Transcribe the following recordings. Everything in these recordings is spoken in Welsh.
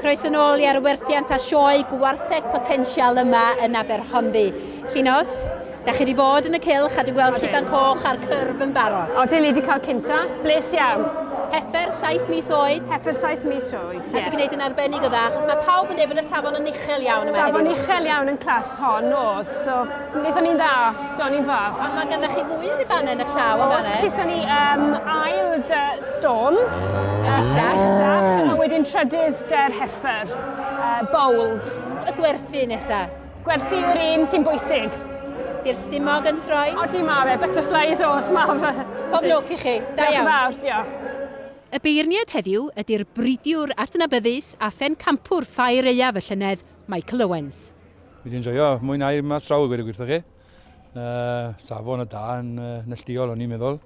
Croeso yn ôl i ar y werthiant a sioe gwartheg potensial yma yn Aberhonddu. Llinos, da chi wedi bod yn y cylch a dwi'n gweld lliban coch a'r cyrf yn barod. O, dyn ni wedi cael cynta, bles iawn. Heffer, saith mis oed. Heffer, saith mis oed, ie. A di gwneud yn arbennig o dda, achos mae pawb yn dweud bod y safon yn uchel iawn yma heddiw. Safon uchel iawn yn clas hon oedd, so Wnaethon ni'n dda, do, ni'n fab. Ond mae ganddo chi fwy o ribanau yn y llaw yn fanna. Os gyson ni um, ail dy storm. Y bistach. Uh, a wedyn trydydd dy'r heffer. Uh, bold. Y gwerthu nesa. Gwerthu yw'r un sy'n bwysig. Di'r stumog yn troi? O, di ma fe, butterflies os ma fe. Pob lwc i chi. Da iawn. Diolch yn fawr, diolch. Y beirniad heddiw ydy'r bridiwr adnabyddus a phencampwr ffair aeaf y llynedd, Michael Owens. Fi wedi enjoyo, mwynhau mas draw i gweud y gwir chi. Uh, safon y da yn uh, nelldiol o'n i'n meddwl.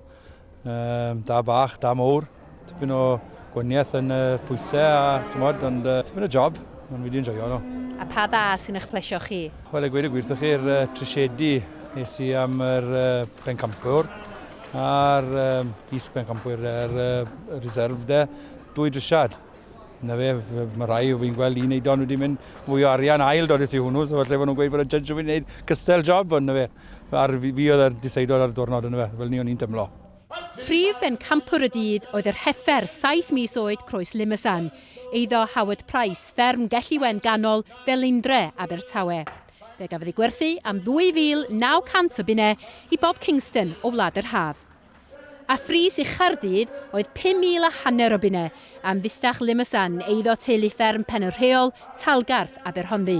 Uh, da bach, da mowr. Tipyn o gwaniaeth yn uh, pwysau a tymod, ond uh, tipyn o job. Ond fi wedi enjoyo nhw. A pa dda sy'n eich plesio chi? Wel, y gweud y gwir chi'r uh, trisiedi nes i am yr uh, bencampwr a'r um, is bencampwr, yr uh, reserve de, dwy drisiad. Na fe, mae rhai o fi'n gweld un eidon wedi mynd mwy o arian ail dod i hwnnw, so falle bod nhw'n gweud bod y judge wedi gwneud cystel job, ond na fe. Ar fi, fi oedd y diseidodd ar y diwrnod yn y fe, fel ni o'n i'n tymlo. Prif bencampwr y dydd oedd yr heifer saith mis oed Croes Limasan, eiddo Howard Price, fferm Gelliwen Ganol, Felindre, Abertawe. Fe gafodd ei gwerthu am 2,900 o bunnau i Bob Kingston o Wlad yr Haf. A phris i Chaerdydd oedd pum mil a hanner o bunnau am fustach Limasan, eiddo teulu fferm Pen y Rheol, Talgarth, Aberhonddu.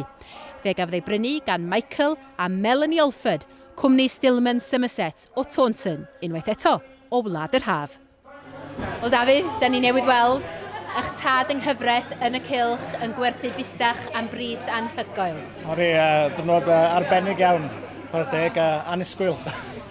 Fe gafodd ei brynu gan Michael a Melanie Alford, cwmni Stillman Somerset o Taunton, unwaith eto, o Wlad yr Haf. Wel Dafydd, da ni newydd weld eich tad yng nghyfraith yn y cylch yn gwerthu bustach am bris anhygoel. Oedd e, uh, dwrnod uh, arbennig iawn, chwarae teg, uh, annisgwyl.